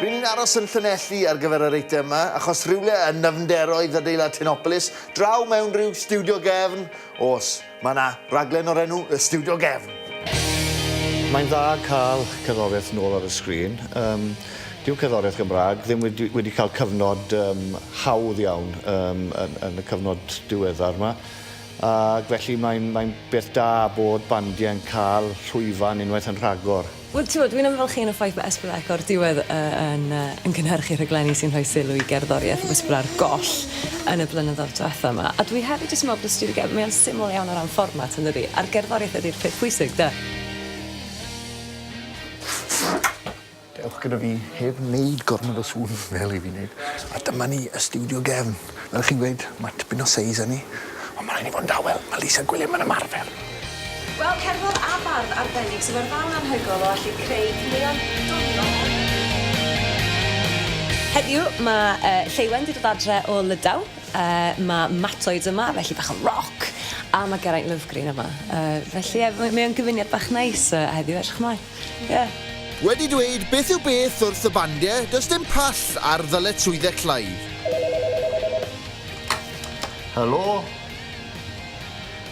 Ry'n ni'n aros yn Llanelli ar gyfer yr eitem 'ma, achos rhywle yn nyfnderoedd adeilad Tenopolis, draw mewn rhyw stiwdio gefn, o's, mae 'na raglen o'r enw Y Stiwdio Gefn. Mae'n dda cael cerddoriaeth nôl ar y sgrin. Yym, dyw cerddoriaeth Gymraeg ddim wedi wedi cael cyfnod yym hawdd iawn yym yn yn y cyfnod diweddar 'ma. Ac felly mae'n mae'n beth da bod bandiau yn cael llwyfan unwaith yn rhagor. Wel t'mod dwi'n ymfalchïo yn y ffaith bod Esblyec o'r diwedd yy yn yy yn cynhyrchu rhaglenni sy'n rhoi sylw i gerddoriaeth ac ysbla'r goll yn y blynyddoedd dwetha 'ma. A dwi hefyd jyst yn me'wl bod y stiwdio gerdd mae o'n syml iawn o ran fformat yndydi? A'r gerddoriaeth ydi'r peth pwysig 'de? Dewch gyda fi heb wneud gormod o sŵn fel i fi wneud. A dyma ni y stiwdio gefn. Fel chi'n gweud, mae tipyn o seis â ni, ond mae rhaid ni fod yn dawel, mae Lisa Gwilym yn ymarfer. Wel, cerddor a bardd arbennig sydd â'r ddawn anhygoel o allu creu caneuon doniol o hyd. Heddiw, mae Lleuwen 'di dod adre o Lydaw. Mae Matoids yma, felly bach o roc, a mae Geraint Lovgreen yma. Felly, ie, mae o'n gyfuniad bach neis heddiw, edrych ymlaen. Ie. Wedi dweud beth yw beth wrth y bandie, does dim pall ar ddyletswydde Clive. Helo?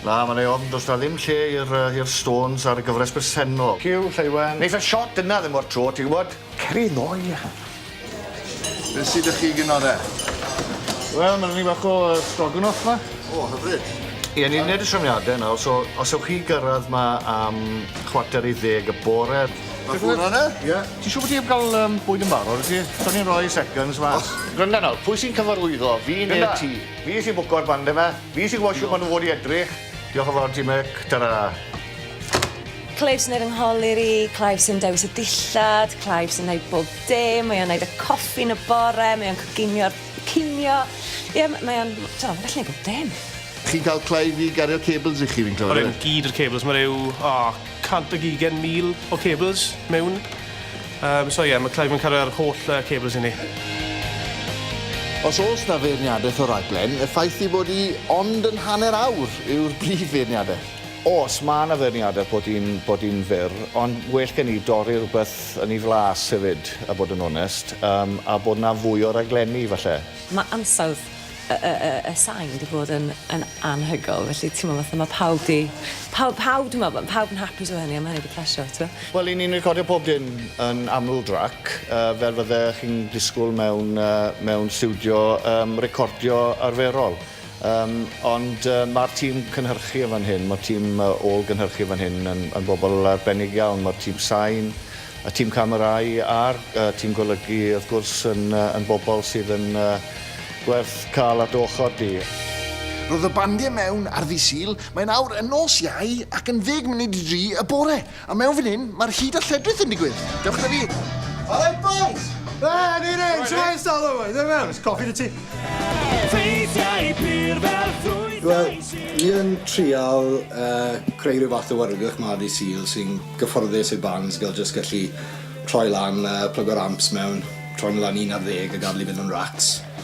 Na, mae'n ei ofn, does 'na ddim lle i'r yy i'r Stones ar y gyfres bresennol. Cyw, Lleuwen. Neith y shot yna ddim o'r tro, ti'n gwbod? Cer i ddoe. Be sy 'da chi gin ore? Wel ma' 'na ni fach o yy stroganoff 'ma. O hyfryd. Ie ni'n neud y trefniade nawr so os ewch chi gyrradd 'ma am chwarter i ddeg y bore Ma' hwnna yna? Ie. Ti siŵr bo' ti 'eb ga'l yym bwyd yn barod wyt ti? Gawn ni roi seconds mas. Granda nawr, pwy sy'n cyfarwyddo, fi ne'r ti? Granda! Fi sy'n bwco'r bande 'ma, fi sy'n gwbo shwt ma' nw fod i edrych. Diolch yn fawr ti Mick, tara. Clive sy'n neud fy ngholur i, Clive sy'n dewis y dillad, Clive sy'n neud bob dim, mae o'n neud y coffi yn y bore, mae o'n coginio'r cinio, ie m- mae o'n, t'mo', ma'n gallu neud bob dim. Chi'n ca'l Clive i gario cables i chi fi'n clywed? Odyn, gyd yr cables, ma' ryw, o, cant ag ugen mil o cables mewn, yym, so ie, ma' Clive yn cario'r holl yy cables i ni. Os o's 'na feirniadeth o'r raglen, y ffaith ei fod 'i ond yn hanner awr yw'r brif feirniadeth. Oes, mae yna feirniadaeth bod hi'n bod hi'n fyr, ond well gen i dorri rhywbeth yn ei flas hefyd, a bod yn onest, yym, a bod 'na fwy o raglenni, falle. Mae ansawdd y y y y sain 'di bod yn yn anhygoel, felly timod, fatha mae pawb 'di... pawb pawb dwi'n meddwl, pawb yn hapus efo hynny a mae hynny 'di plesio, tibod. Wel, 'yn ni'n recordio pob dim yn aml drac, yy, fel fydde chi'n disgwyl mewn yy mewn stiwdio yym recordio arferol. Yym, ond yy ma'r tîm cynhyrchu yn fan hyn, ma'r tîm yy ôl-gynhyrchu yn fan hyn yn yn bobl arbennig iawn, ma'r tîm sain, y tîm camerâu a'r yy tîm golygu wrth gwrs yn yy yn bobl sydd yn yy gwerth ca'l ar dy ochor di. Roedd y bandiau mewn ar ddydd Sul, mae'n awr yn nos Iau ac yn ddeg munud i dri y bore. A mewn fan hyn, mae'r hud a lledrith yn digwydd! Dewch 'da fi! Alright boys! There it is! Shwmae Salo bois! Dewch i mewn, oes coffi 'da ti? Ffeithiau pur fel ffrwythau Wel, ni yn trial creu rhyw fath o wrthrych 'ma dydd Sul sy'n gyfforddus i'r bands gael jyst gallu troi lan a plygo'r amps mewn, troi nhw lan i un ar ddeg a gadael i fynd am racs.